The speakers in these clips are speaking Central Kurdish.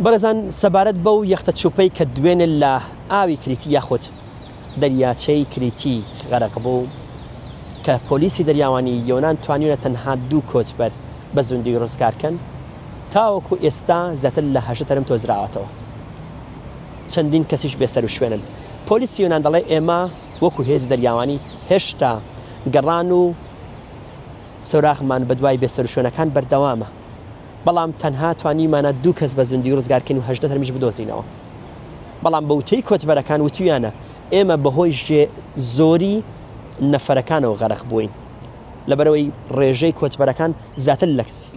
بەڕێزان سەبارەت بەو یەختە چوپەی کە دوێنێ لە ئاوی کریتی یاخود دەریاچەی کریتی غەرق بوو کە پۆلیسی دەریاوانی یۆنان توانیونە تەنها دوو کۆچبەر بە زوندی ڕزگار کەن تاوەکو ئێستا زیاتر لە هەژدە تەرم تۆزراوەتەوە چەندین کەسیش بێ سەروشوێنن پۆلیسی یۆنان دەڵێ ئێمە وەکو هێزی دەریاوانی هێشتا گەڕان و سۆراغمان بەدوای بێ سەروشوێنەکان بەردەوامە. بەڵام تەنها توانیومانە دوو کەس بە زیندووی ڕزگارکەین و هەژدە تەرمیش بدۆزینەوە. بەڵام بە وتەی کۆچبەرەکان وتویانە ئێمە بەهۆی ژێ زۆری نەفەرەکانەوە غەرق بووین لەبەرەوەی ڕێژەی کۆچبەرەکان زیاتر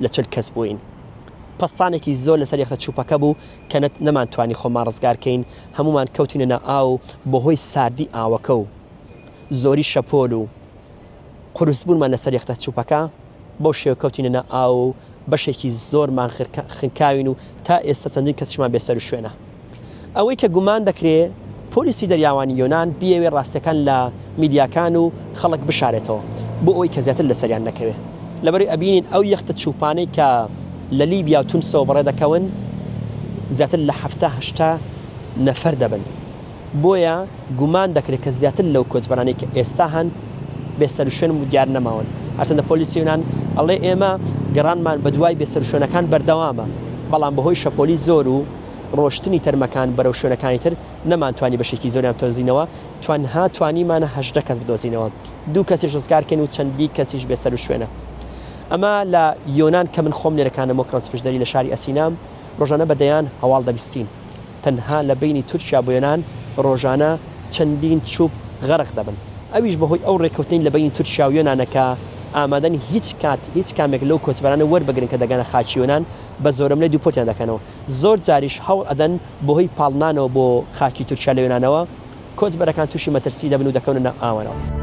لە چل کەس بووین. پەستانێکی زۆر لەسەر یەختە چوپەکە بوو کە نەت نەمانتوانی خۆمان ڕزگار کەین هەموومان کەوتینە ناو ئاو و بەهۆی ساردی ئاوەکە و زۆری شەپۆل و قورس بوونمان لەسەر یەختە چوپەکە بەو شێوە کەوتینە ناو ئاو و بەشێکی زۆرمان خنکاوین و تا ئێستا چەندین کەسیشمان بێ سەر و شوێنە. ئەوەی کە گومان دەکرێ پۆلیسی دەریاوانی یۆنان بیەوێ ڕاستیەکان لە میدیاکان و خەڵک بشارێتەوە بۆ ئەوەی کە زیاتر لەسەریان نەکەوێ لەبەرەی ئەبینین ئەو یەختە چوپانەی کە لە لیبیا و تونسەوە بەڕێ دەکەون زیاتر لە حەفتا هەشتا نەفەر دەبن. بۆیە گومان دەکرێت کە زیاتر لەو کۆچبەرانەی کە ئێستا هەن بێ سەروشوێن و دیار نەماون، هەرچەندە پۆلیسی یۆنان ئەڵێ ئێمە گەڕانمان بەدوای بێ سەروشوێنەکان بەردەوامە، بەڵام بەهۆی شەپۆلی زۆر و ڕۆشتنی تەرمەکان بەرەو شوێنەکانی تر نەمانتوانی بەشێکی زۆریان بتۆزینەوە، تەنها توانیمانە هەژدە کەس بدۆزینەوە، دوو کەسیش ڕزگارکەین و چەندی کەسیش بێ سەروشوێنە. ئەمە لە یۆنان کە من خۆم نێرەکانم وەک ڕەنجپشدەری لە شاری ئەسینام ڕۆژانە بە دەیان هەواڵ دەبیستین. تەنها لە بەینی تورکیا بوێنان رۆژانە چەندین چوپ غەرق دەبن ئەویش بەهۆی ئەو رێکەوتنەی لە بەینی تورکیا و یۆنانە کە ئامادەن هیچ کات هیچ کامێک لەو کۆچبەرانە وەربگرن کە دەگەنە خاکی یۆنان بە زۆرەملێ دوپۆتیان دەکەنەوە زۆر جاریش هەوڵ ئەدەن بەهۆی پاڵنانەوە بۆ خاکی تورکیا لە یۆنانەوە کۆچبەرەکان توشی مەترسی دەبن و دەکەونە ناو ئاوەنەوە.